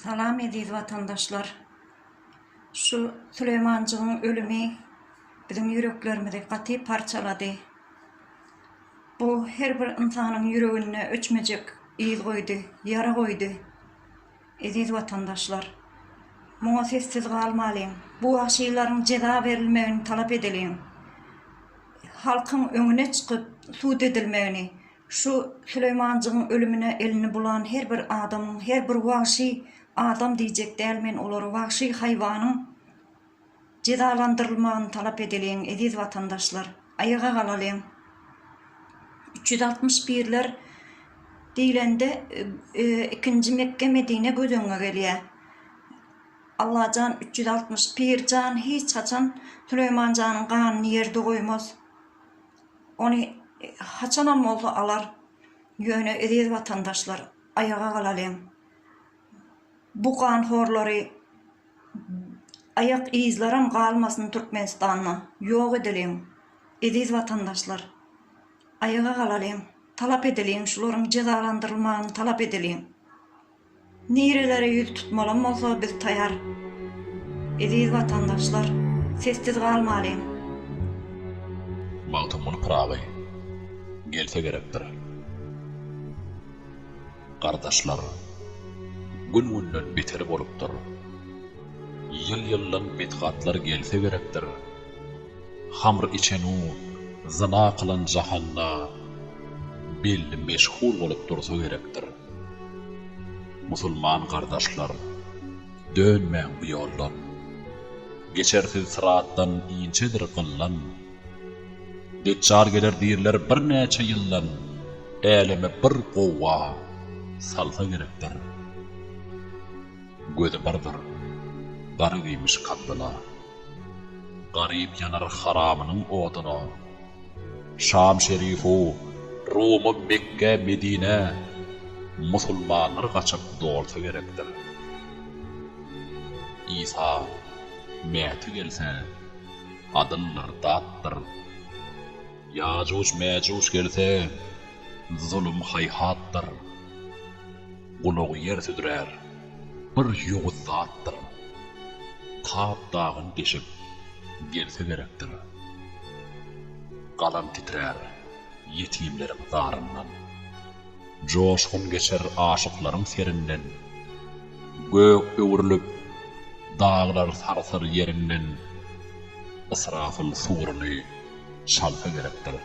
Salam eziz watandaşlar. Şu Süleýmanjygyň ölümi biziň ýüreklerimizi gaty parçalady. Bu her bir ynsanyň ýüreginde öçmejek yz goýdy, ýara goýdy. Eziz watandaşlar. Muňa sessiz galmalyň. Bu wagşylaryň jeza berilmegini talap edeliň. Halkyň öňüne çykyp sud edilmegini, Şu Süleýmanjygyň ölümine elini bulan her bir adamyň, her bir wagşy adam diýjek däl men olary wagşy haýwanyň jezalandyrylmagyny talap edeliň eziz watandaşlar aýaga galalyň üç ýüz altmyş birler diýlende ikinji Mekge Medine göz öňüňe gelýä Allajan üç ýüz altmyş pir jan hiç haçan Süleýmanjanyň ganyny ýerde goýmaz. ony haçanam bolsa alar, ýöne eziz watandaşlar aýaga galalyň, bu ganhorlary aýak yzlaram galmasyn Türkmenistanda ýok edeliň, eziz watandaşlar aýaga galalyň, talap edeliň şularyň jezalandyrylmagyny talap edeliň. Nirelere ýüz tutmalam bolsa biz taýar. Eziz watandaşlar sessiz galmalyň. Magtymguly Pyragy gelse gerekdir. Gardaşlar gün günden beter bolupdyr. Ýyl ýyldan betgatlar gelse gerekdir. Hamr içenu zyna kylan jahanda belli meşhur bolup dursa gerekdir. Musulman gardaşlarym! Dönmäň bu ýoldan! Geçersiz syratdan inçedir gyllan. Deçjal geler diýrler birnäçe ýyldan, äleme bir gowga salsa gerekdir. Gözi birdir, garyp iýmiş kapbyla. Garyp ýanar haramynyň oduna. Şam şerifu, Ruma, Mekgä, Medinä musulmanlar gaçyp dolsa gerekdir. Isa, Mäti gelse, adyldyr, datdyr. Ýajuj-Mäjuj gelse, zulum-haýhatdyr. Gulagy ýer südürär, bir ýowuz zatdyr. Kap dagyny deşip, gelse gerekdir. Galam titrär, ýetimleriň zaryndan. Joşgun geçer aşyklaryň serinden. Gök öwrülip, daglar sarsar ýerinden. Ysrafyl suruny çalsa gerekdir.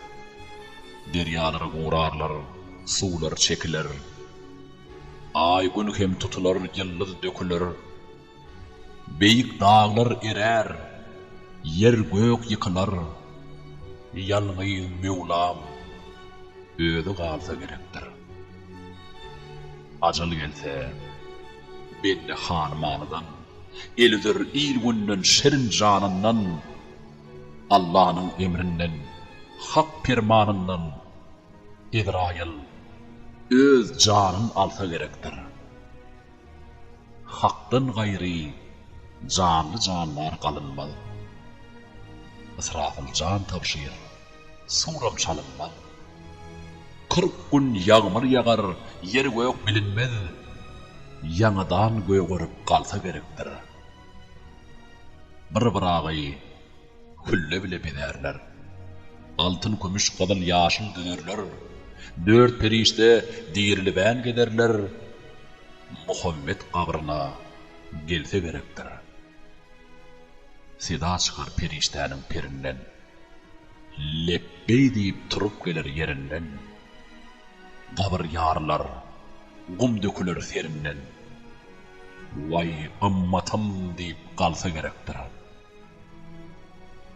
Derýalary gurarlar, suwlar çekiler. Aý, Gün hem tutular, ýyldyz döküler. Beýik daglar erär, ýer-gök ýykylar. Ýalňyz Möwlam özi galsa gerekdir. Ajal gelse, bende hanymanydan. El üzer il-günden, şirin janyndan. Allanyň emrinden, Hak permanyndan Ezraýyl öz janyn alsa gerekdir. Hakdan gaýry janly-jandar galynmaz. Ysrafyl jan tabşyr, suram çalynmaz. Kyrk gün ýagmyr ýagar, ýer-gök bilinmez. Ýaňadan gögerip galsa gerekdir. Bir Ybragy külle bile bezärler. Altyn, kümüş, gyzyl, ýaşyl düzerler. Dört perişde dirilibän gezerler. Muhammet gabryna gelse gerekdir. Seda çykar perişdäniň perinden. Lepbeý diýip turup geler ýerinden. Gabyr ýarylar, gum döküler serinden. Waý, ymmatym diýip galsa gerekdir.